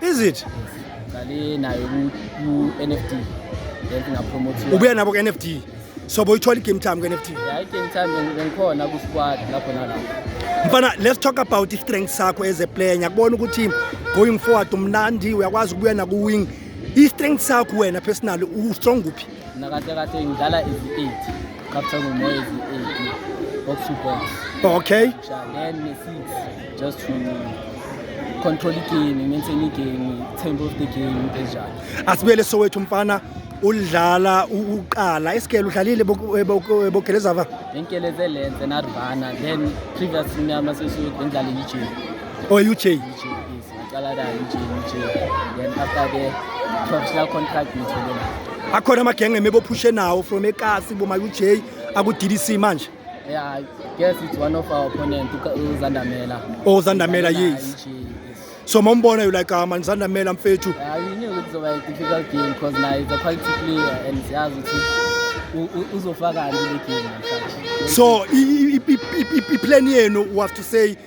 is it ngale nayo ku NFT then ngapromote ubuya nabo ku NFT so boyithola igame time ku NFT yeah igame time ngikhona ku squad lapho nalapho mfana let's talk about i strength sakho as a player ngiyakubona ukuthi going forward umnandi uyakwazi ukubuya naku wing i strength sakho wena personally u strong kuphi Mina kahle kahle ngidlala ezi-eight captain umoya ezi-eight box to box okay then ne-six just to control igame maintain igame tempo of the game into enjalo asibuyele sowethu mfana ulidlala uqala isigele udlalile bogelezava ngenkeleze lenze narvana then previous nyama sesudlala i-uj oh i-uj ngaqala nayo nje nje then after ke professional contract ngithole akhona amagenge emebophushe nawo from ekasi bomayu-j aku-ddc manje yeah i guess it's one of our opponent uzandamela oh uzandamela yes so mombona you like ah, man uzandamela mfethu yeah, you knew it was a difficult game because now it's a quality player and siyazi ukuthi uzofakani le game so i-plan yenu was to say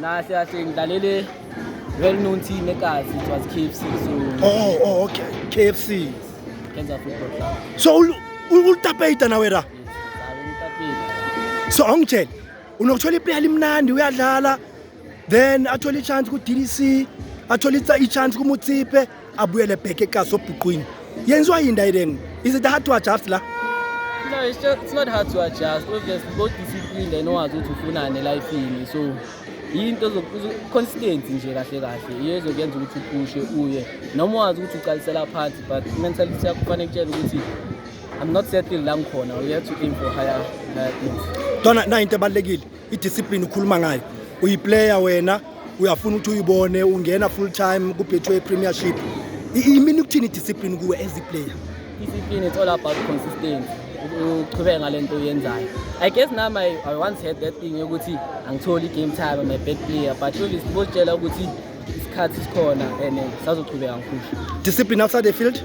Nahle kahle ngidlalele well known team eKazi it was KFC so Oh, oh okay. KFC. Kenza Football Club. So ul- ul- ulitapeyita nawe ra. Yes, ngidlala ngitapile. So angitshele unokuthola iplayer limnandi uyadlala then athola i-chance ku-DDC athola i-chance kumutsipe abuyele back ekhaya sobhuqwini yenziwa yini ndayideni is it hard to adjust la No, it's, just, it's not hard to adjust. Obviously, go discipline and wazi ukuthi ufunani elifini. So, yinto consistency nje kahle kahle iyo ezokuyenza ukuthi uphushe uye noma wazi ukuthi uqalisela phansi but mentality yakho kufanele kutshela ukuthi I'm not settled la ngikhona. We have to aim for higher, higher things. Dona, na into ebalekile. idiscipline ukhuluma ngayo uyiplayer wena uyafuna ukuthi uyibone ungena full time kubhethiwe ipremiership imini ukuthini idiscipline kuwe as iplayer discipline it's all about consistency uqhubeke ngale nto uyenzayo i guess nami I, i once had that thing yokuthi angitholi i-game time i'm a bad player but obviously bositshela ukuthi isikhathi sikhona and sazoqhubeka ngiphusha discipline outside the field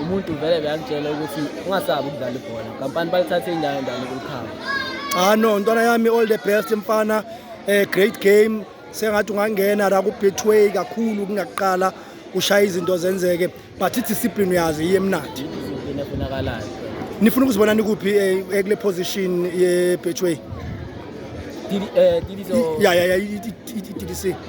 umuntu vele beyakutshela ukuthi ungasabi ukudlala ibhola kampani balithathe indawo endalo kulikhaba ah no ntwana yami all the best mfana eh great game sengathi ungangena la kubetway kakhulu kungaqala ushaya izinto zenzeke but i-discipline uyazi iye emnandi nifuna ukuzibona nikuphi eh, eh, kule position ye-betway eh, ya ya ya i-tdc